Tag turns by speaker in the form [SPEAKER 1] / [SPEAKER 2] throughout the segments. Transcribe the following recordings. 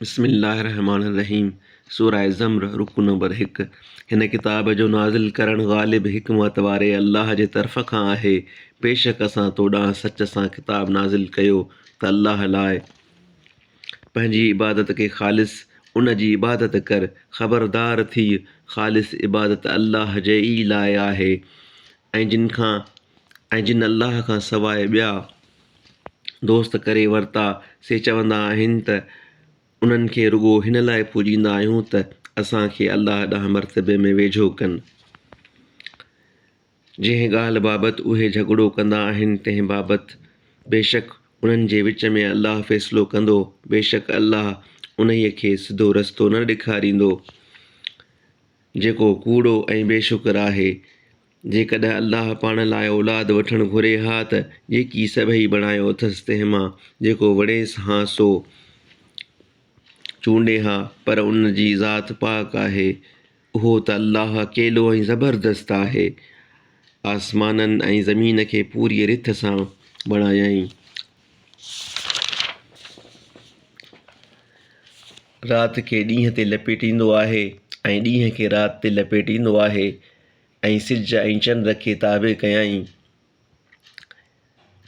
[SPEAKER 1] بسم الله الرحمٰن الرحيم سوره زمر رڪوع نمبر هڪ هن ڪتاب جو نازل ڪرڻ غالب حڪمت واري الله جي طرف کان آهي بيشڪ اسان تو ڏانهن سچ سان ڪتاب نازل ڪيو ته الله لاء پنهنجي عبادت کي خالص ان جي عبادت ڪر خبردار ٿيء خالص عبادت الله جي ئي لاء آهي ۽ جن کان ۽ جن الله کان سواء ٻيا دوست ڪري ورتا، سي چوندا آهن ته انهن کي رڳو هن لاء پوڄيندا آهيون ته اسان کي الله ڏانهن مرتبي ۾ ويجهو ڪن. جنهن ڳالهه بابت اهي جهڳڙو ڪندا آهن تنهن بابت بيشڪ انهن جي وچ ۾ الله فيصلو ڪندو، بيشڪ الله انهيء کي سڌو رستو نه ڏيکاريندو، جيڪو ڪوڙو ۽ بي شڪر آهي. جيڪڏهن الله پاڻ لاء اولاد وٺڻ گهري ها ته جيڪي سڀئي بڻايو اٿس تنهن مان جيڪو وڻيس هان سو چونڊي ها پر ان جي ذات پاڪ آهي اهو ته الله اڪيلو ۽ زبردست آهي آسمانن ۽ زمين کي پوريء رٿ سان بڻايائين. رات کي ڏينهن تي لپيٽيندو آهي ۽ ڏينهن کي رات تي لپيٽيندو آهي. ۽ سج ۽ چنڊ کي تابع ڪيائين.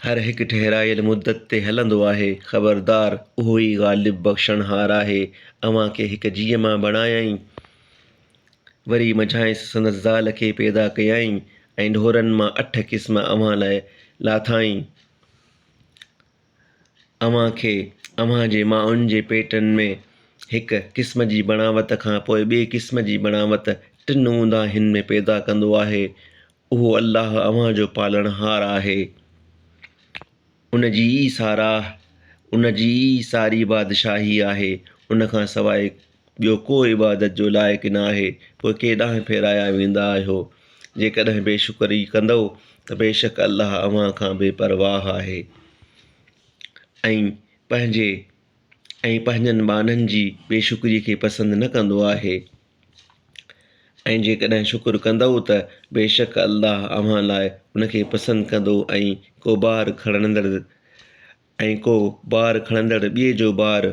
[SPEAKER 1] هر هڪ ٺهرايل مدت تي هلندو آهي. خبردار! اهو ئي غالب بخشڻهار آهي. اوهان کي هڪ جيء مان بڻايائين. وري منجهانئس سندس زال کي پيدا ڪيائين ۽ ڍورن مان اٺ قسم اوهان لاء لاٿائين. اوهان کي اوهان جي مائن جي پيٽن ۾ هڪ قسم جي بڻاوت کان پوء ٻئي قسم جي بڻاوت ٽن اونداهين ۾ پيدا ڪندو آهي. اهو الله اوهان جو پالڻهار آهي. ان جي ئي ساراهه، ان جي ئي ساري بادشاهي آهي. ان کان سواء ٻيو ڪو عبادت جو لائق نه آهي پوء ڪنهن ڏانهن ڦيرايا ويندا آهيو؟ جيڪڏهن بي شڪري ڪندؤ ته بيشڪ الله اوهان کان بي پرواهه آهي ۽ پنهنجي ۽ پنهنجن ٻانهن جي بي شڪري کي پسند نه ڪندو آهي ۽ جيڪڏهن شڪر ڪندؤ ته بيشڪ الله اوهان لاء ان کي پسند ڪندو ۽ ڪو بار کڻندڙ ۽ ڪو بار کڻندڙ ٻئي جو بار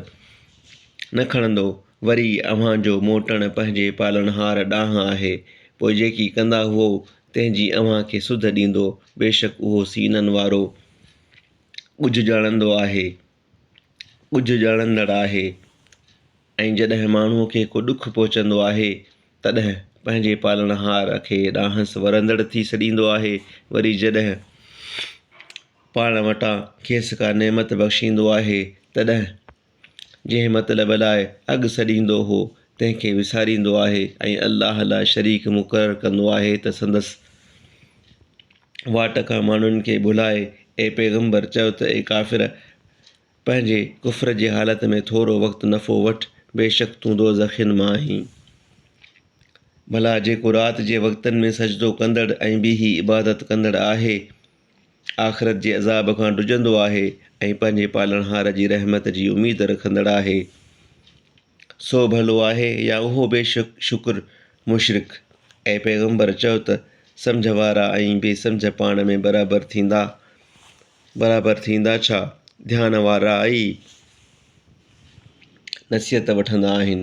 [SPEAKER 1] نه کڻندو، وري اوهان جو موٽڻ پنهنجي پالڻهار ڏانهن آهي، پوء جيڪي ڪندا هئو، تنهن جي اوهان کي سڌ ڏيندو، بيشڪ اهو سينن وارو ڳجهه ڄاڻندو آهي، ڳجهه ڄاڻندڙ آهي. ۽ جڏهن ماڻهوء کي ڪو ڏک پهچندو آهي، تڏهن پنهنجي پالڻهار کي ڏانهنس ورندڙ ٿي سڏيندو آهي، وري جڏهن. پاڻ وٽان کيس ڪا نعمت بخشيندو آهي تڏهن جنهن مطلب لاء اڳ سڏيندو هو تنهن کي وساريندو آهي ۽ الله لاء شريڪ مقرر ڪندو آهي ته سندس واٽ کان ماڻهن کي ڀلائي، اي پيغمبر چئو ته اي ڪافر! پنهنجي ڪفر جي حالت ۾ ٿورو وقت نفعو وٺ، بيشڪ تون دوزخين مان آهين. ڀلا جيڪو رات جي وقتن ۾ سجدو ڪندڙ ۽ بيهي عبادت ڪندڙ آهي آخرت جي عذاب کان ڊڄندو آهي ۽ پنهنجي پالڻهار جي رحمت جي اميد رکندڙ آهي، سو ڀلو آهي يا اهو بي شڪر مشرڪ، اي پيغمبر چؤ ته، سمجهه وارا ۽ بي سمجهه پاڻ ۾ برابر ٿيندا؟ برابر ٿيندا ڇا؟ ڌيان وارا ئي نصيحت وٺندا آهن.